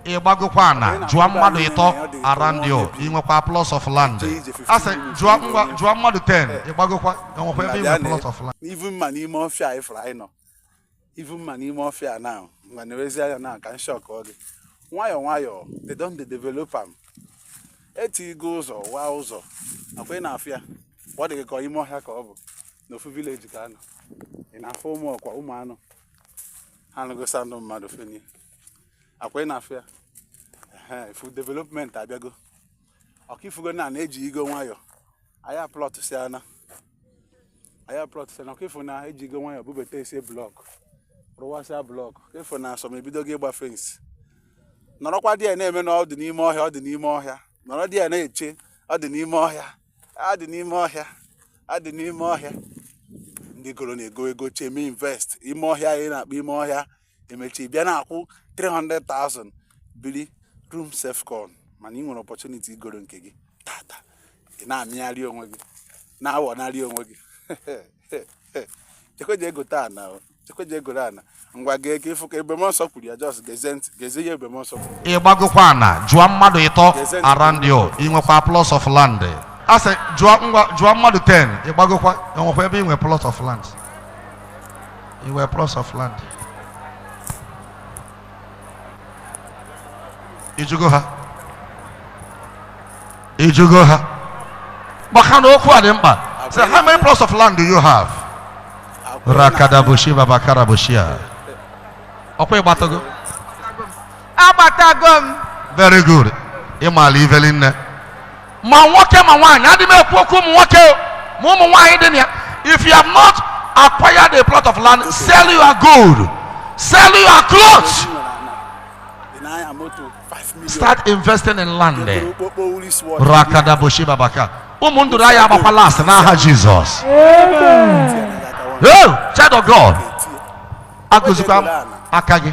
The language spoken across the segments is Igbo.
ịgbagokwa ana jụọ mmadụ ịtọ around you inwekwa plots of land asị jụọ ngwa jụọ mmadụ 10 ịgbagokwa enwekwa ebe inwe plots of land even ma n'ime ọfịa anyị fụrụ anyị nọ even ma n'ime ọfịa na ngwa na-ewezi anya na ka m shock gị nwayọọ nwayọọ they don dey develop am etigo ụzọ waa ụzọ ọkwa ị na-afụ ya ọ dị gị ka ime ọhịa ka ọ bụ n'ofu village ka a nọ ị na-afụ ụmụ ọkwa ụmụ anụ ha nụgo sound mmadụ fenie ọkwa ị na-afụ ya ịfụ development abịago ọkwa ịfụgo na ejigo nwayọ anyị aplọt si ana anyị aplọt si ana ọkwa ịfụ na ejigo nwayọ bubatasịa block rụwasịa block ọkwa ịfụ na some ebidogo ịgba fence nọrọkwa there na-eme na ọ dị n'ime ọhịa ọ dị n'ime ọhịa nọrọ there na-eche ọ dị n'ime ọhịa ọ dị n'ime ọhịa ọ dị n'ime ọhịa ndị goro na-ego ego chee mee invest ime ọhịa anyị na-akpọ ime ọhịa emecha ị bịa na-akwụ 300,000 biri room self con mana ị nwere opportunity igoro nke gị tata ị na-amịgharị onwe gị na-awọnarị onwe gị jekwa je gote ana jekwa je goro ana ngwa gee ka ịfụ ka Ebube Mụọnsọ kwuru ya just gezie ntị gezie ihe Ebube Mụọnsọ kwuru ị gbagokwa ana jụọ mmadụ ịtọ around you inwekwa plots of land asị jụọ ngwa jụọ mmadụ 10 ị gbagokwa enwekwa ebe inwe plots of land Inwe plots of land. Ị jụgo ha. Ị jụgo ha. Maka na okwu a dị mkpa. Say, how many plots of land do you have? Rakadabushi babakarabushia. Ọkwa ịgbatago? agbatago m very good ị maara ive niine ma nwoke ma nwaanyị adị m ekwu okwu ụmụ nwoke o, ma ụmụ nwaanyị dị na ya if you have not acquired a plot of land sell your gold sell your clothes start investing in land rakada boshi babaka ụmụ ndụrụ aya agbakwa last n'aha Jesus Oh, child of god agụzikwa m aka gị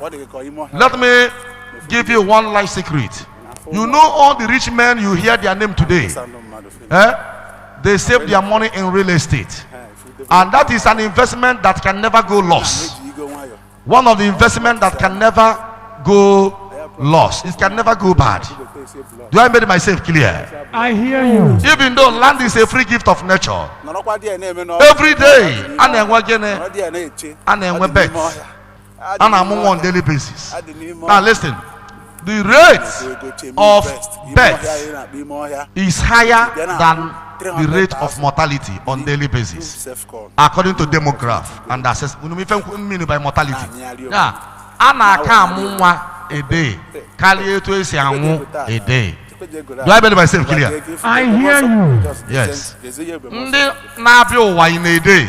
Ọ dị gị ka ime ọhịa. Let me give you one life secret. You know all the rich men you hear their name today. Sound mmadụ fee. Eh? They save their money in real estate. Ha, ifude- And that is an investment that can never go lost. ejigo nwayọ. One of the investment that can never go lost. It can never go bad. Igote esi ebula. Do I make myself clear? I hear you. Even though land is a free gift of nature, Nọrọkwa there na-eme n'ọrụ. every day a na-enwe gịnị? Nọrọ there na-eche. A na-enwe Ọ dị n'ime birth. ọhịa. a na-amụ nwa on daily basis now listen the rate of birth is higher than the rate of mortality on daily basis according to demograph and assess unu ma ife nkwu- m mean by mortality ya a na-aka amụ nwa a day karịa etu e si anwụ a day do i believe myself clear I hear you. Yes. ndị na-abịa ụwa in a day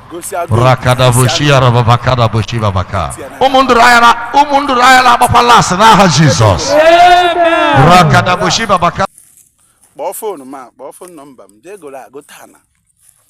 gosi agụ rakadaboshiarababakadabosibabaka ụmụ ndụrụ anya na- ụmụ ndụrụ anya na-agbakwa lasị n'aha jizọs rakadaboshibabaka kpọọ foonu ma kpọọ foonu nọmba m jee goro agụ taa na